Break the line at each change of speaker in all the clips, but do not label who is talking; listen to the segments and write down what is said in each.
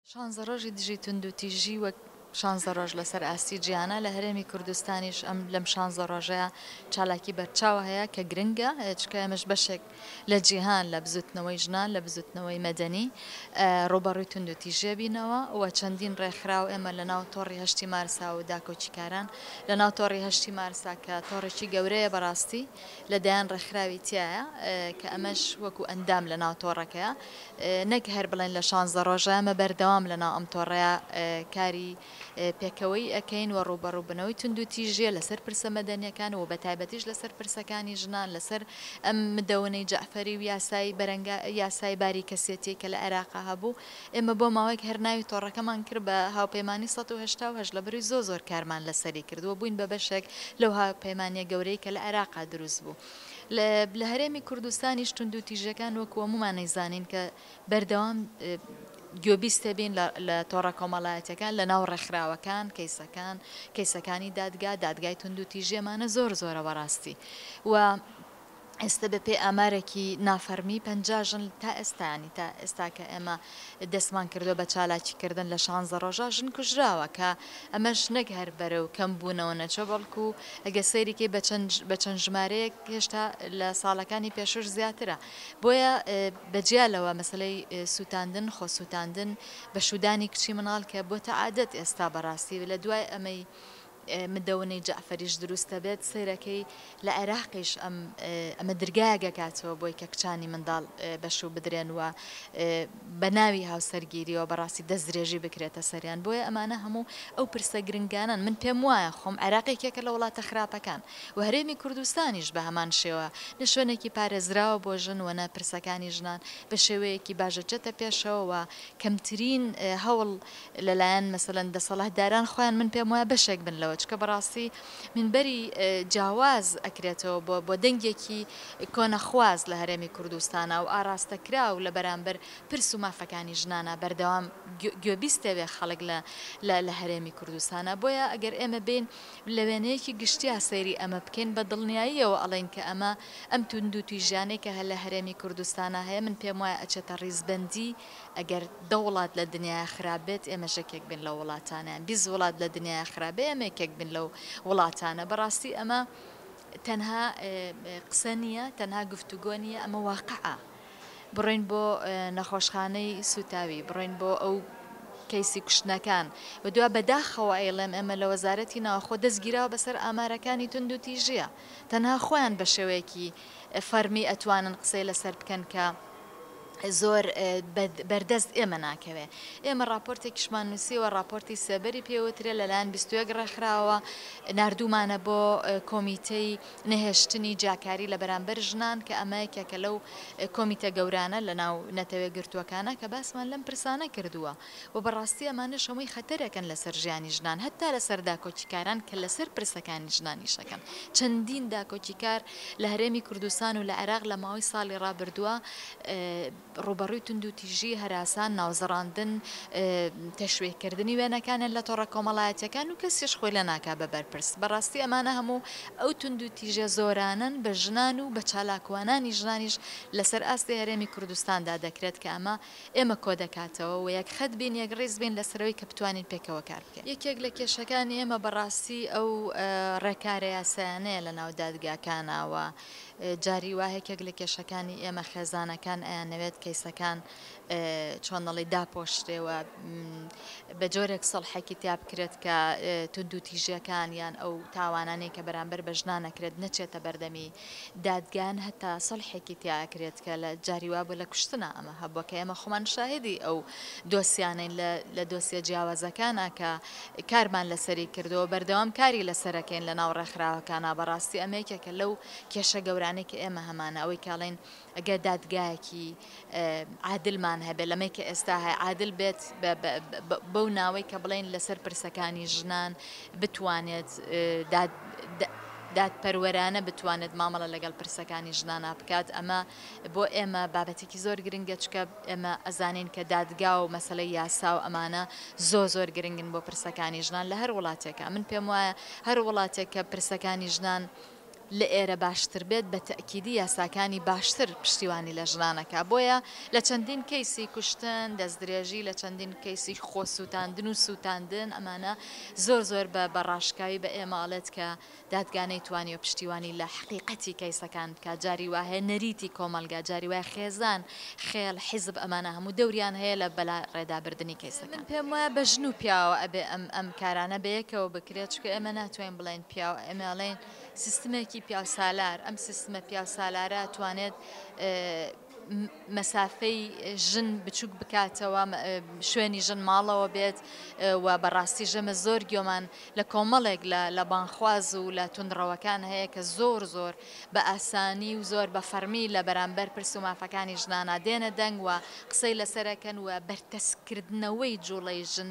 شانزە ڕۆژی دژی توندوتیژی وەک شانزە ڕۆژ لەسەر ئاستی جیهانە لە هەرێمی کوردستانیش ئەم لەم شانزە ڕۆژەیە چالاکی بەرچاو هەیە کە گرنگە چونکە ئێمەش بەشێک لە جیهان لە بزوتنەوەی ژنان لە بزوتنەوەی مەدەنی ڕوبەڕوی توندوتیژیە بینەوە و چەندین ڕێکخراو ئێمە لە ناو تۆڕی هەشتی مارسا و داکۆکیکاران لە ناو تۆڕی هەشتی مارسا کە تۆڕێکی گەورەیە بەڕاستی لە دەیان ڕێکخراوی تایە کە ئەمەش وەکو ئەندام لە ناو تۆڕەکەیە نەک هەر بڵێن لە شانزدە ڕۆژە ئێمە بەردەوام لەناو ئەم تۆڕەیا کاری پێکەوەیی ئەکەین و ڕووبەڕووبنەوەی توندوتیژیە لەسەر پرسە مەدەنیەکان و بەتایبەتیش لەسەر پرسەکانی ژنان لەسەر ئەم مدەونەی جەعفەری و یاسایی بەرەنگا یاسای باری کەسێتی کە لە عێراقا هەبوو ئێمە بۆ ماوەیەک هەر ناوی تۆڕەکەمان کرد بە هاوپەیمانی سەد و هەشتا و هەشت لەبری زۆ زۆر کارمان لەسەری کرد و بووین بە بەشێک لەو هاوپەیمانیە گەورەی کە لە عێراقا دروست بوو. لە هەرێمی کوردستانیش توندوتیژیەکان وەکو هەمومان ئەیزانین کە بەردەوام گوێبیست بین لە تۆڕە کۆمەڵایەتەکان لە ناو ڕێکخراوەکان کەیسەکان کەیسەکانی دادگا دادگای تونند و تیژێمانە زۆر زۆرە بەڕاستی و ئێستا بە پێی ئامارێکی نافەرمی پژن تا ئێستانی تا ئێستا کە ئێمە دەستمان کردووە بە چالاکی کردن لە شانزە ڕۆژە ژن کوژراوە کە ئەمەش نەک هەر بەرەو کەم بوونەوە نەچووە بەڵکو گەر سەیری کەی بە چەند بە چەند ژمارەیەک هێشتا لە ساڵەکانی پێشووش زیاترە بۆیە بە جیا لەوە مەسەلەی سووتاندن خۆ سووتاندن بە شوودانی کچی مناڵ کە بۆتە عادەت ئێستا بەڕاستی لە دوای ئەمەی مدەونەی جەعفەریش دروستە بێت سەیرەکەی لە عێراقیش ئەم ئەمە درگایەک ئەکاتەوە بۆی کە کچانی منداڵ بەشوو بدرێن و بە ناوی هاوسەرگیریەوە بەڕاستی دەست درێژی بکرێتە سەریان بۆیە ئەمانە هەموو ئەو پرسە گرنگانەن من پێم وایە خۆم عێراقێکێکە لە وڵاتە خراپەکان و هەرێمی کوردستانیش بە هەمان شێوە نە شوێنێکی پارێزراوە بۆ ژن وەنە پرسەکانی ژنان بە شێوەیەکی باش دەچێتە پێشەوە و کەمترین هەوڵ لەلایەن مەسەلەن دەسەڵهداران خۆیان من پێم وایە بەشێک بن لەوە چکە بەڕاستی مینبەری جاواز ئەکرێتەوە بۆ بۆ دەنگێکی کۆنەخواز لە هەرێمی کوردستانا و ئاڕاستەکراو لە بەرامبەر پرس و مافەکانی ژنانا بەردەوام گوێ بیستەێ خەڵک لە لە لە هەرێمی کوردستانا بۆیە ئەگەر ئێمە بین لە وێنەیەکی گشتیا سەیری ئەمە بکەین بە دڵنیاییەوە ئەڵێن کە ئەمە ئەم توندو تویژیانەی کە هە لە هەرێمی کوردستانا هەیە من پێم وایە ئەچێتە ڕیزبەندی ئەگەر دە وڵات لە دنیایا خراپ بێت ئێمەش یەکێک بین لەو وڵاتانەیان بیست وڵات لە دنیایا خراپ بێ ئێمە یەکێک بین لەو وڵاتانە بەڕاستی ئەمە تەنها قسە نییە تەنها گفتوگۆ نییە ئەمە واقعە بڕۆین بۆ نەخۆشخانەی سوتاوی بڕۆین بۆ ئەو کەیسی کوشتنەکان و دوا بەداخەوە ئەیڵێم ئێمە لە وەزارەتی ناوخۆ دەستگیراوە بەسەر ئامارەکانی تونند و تیژە تەنها خۆیان بە شێوەیەکی فەرمی ئەتوانن قسەی لەسەر بکەن کە زۆر بەردەست ئێمە ناکەوێ. ئێمە ڕاپۆرتێکیشمان نووسیوە، ڕاپۆرتی سێبەری پێ وترێ، لەلایەن بیست و یەک ڕێکخراوەوە ناردوومانە بۆ کۆمیتەی نەهێشتنی جیاکاری لە بەرامبەر ژنان کە ئەمە یەکێکە لەو کۆمیتە گەورانە لەناو نەتەوە یەکگرتووەکانە کە باسمان لەم پرسانە کردووە. و بەڕاستی ئەمانەش هەمووی خەتەرەکەن لەسەر ژیانی ژنان هەتا لەسەر داکۆکیکاران کە لەسەر پرسەکانی ژنانیش ئەکەن چەندین داکۆکیکار لە هەرێمی کوردستان و لە عێراق لە ماوەی ساڵی ڕابردووە ڕووبەڕووی توندوتیژی هەراسان ناوزڕاندن تەشوێکردنی وێنەکانیان لە تۆڕە کۆمەڵایەتیەکان و کەسیش خۆی لە ناکا بە بەرپرس بەڕاستی ئەمانە هەموو ئەو توندوتیژە زۆرانەن بە ژنان و بە چالاکوانانی ژنانیش لەسەر ئاستی هەرێمی کوردستاندا دەکرێت کە ئەمە ئێمە کۆدەکاتەوە و یەک خەت بین یەک ڕیز بین لەسەرەوەی کە بتوانین پێکەوە کار بکەین. یەکێک لە کێشەکانی ئێمە بەڕاستی ئەو ڕێکارە یاسایانەیە لە ناو دادگاکانا و جاری وا یەکێک لە کێشەکانی ئێمە خێزانەکان ئەیانەوێت کەیسەکان چۆن دەڵێ داپۆشرێ و بە جۆرێک سەڵحێکی تیا بکرێت کە توندوتیژیەکان یان ئەو تاوانانەی کە بەرامبەر بە ژنان نەکرێت نەچێتە بەردەمی دادگان هەتا سەلحێکی تیا ئەکرێت کە لە جاری وابوو لە کوشتنا ئەمە هەبووە کە ئێمە خۆمان شاهێدی ئەو دۆسیانەین لە لە دۆسیە جیاوازەکانە کە کارمان لەسەری کردەوە بەردەوام کاری لەسەرەکەین لە ناو ڕێکخراوەکانە بەڕاستی ئەمە یەکێکە لەو کێشە گەورانەی کە ئێمە هەمانە ئەوەی کاڵین ئەگەر دادگایەکی عادلمان هەبێت لەمەی کە ئێستا هەیە عادل بێت بەو ناوەی کە بڵین لەسەر پرسەکانی ژنان بتوانێت دادپەروەرانە بتوانێت مامەڵە لەگەڵ پرسەکانی ژنانە بکات ئەمە بۆ ئێمە بابەتێکی زۆر گرنگە چکە ئێمە ئەزانین کە دادگا و مەسلە یاسا و ئەمانە زۆ زۆر گرنگن بۆ پرسەکانی ژنان لە هەر وڵاتێکە من پێم وایە هەر وڵاتێک کە پرسەکانی ژنان لەئێرە باشتر بێت بە تەئکیدی یاساکانی باشتر پشتیوانی لە ژنان ئەکا بۆیە لە چەندین کەیسی کوشتن دەستدرێژی لە چەندین کەیسی خۆ سوتاندن و سوتاندن ئەمانە زۆر زۆر بە بە ڕاشکاوی بە ئێمە ئەڵێت کە دادگا نەیتوانیوە پشتیوانی لە حەقیقەتی کەیسەکان بکات جاری وا هەیە نەریتی کۆمەڵگا جاری وایە خێزان خێڵ حیزب ئەمانە هەموو دەوریان هەیە لە بەلا ڕێدا بردنی کەیسەکان. من پێم وایە بە ژن و پیاوە ئەبێ ئەم ئەم کارانە بەیەکەوە بکرێت چونکە ئێمە ناتوانین بڵێین پیاو ئەمەڵێن سیستمێکی پیاوسالار ئەم سیستمە پیاوسالارە توانێت مەسافەی ژن بچووک بکاتەوە شوێنی ژن ماڵەوە بێت و بەڕاستی ژەمە زۆر گۆمان لە کۆمەڵێک لە لە بانخواز و لە تونڕەوەکان هەیە کە زۆر زۆر بە ئاسانی و زۆر بە فەرمی لە بەرامبەر پرس و مافەکانی ژنانە دێنە دەنگ و قسەی لەسەرەکەن و بەرتەسکردنەوەی جوڵەی ژن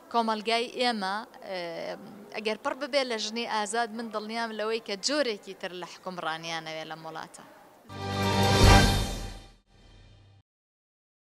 کۆمەڵگای ئێمە ئەگەر پڕ ببێت لە ژنی ئازاد، من دڵنیام لەوەی کە جۆرێکی تر لە حوکمڕانییانەوێت لەم وڵاتە.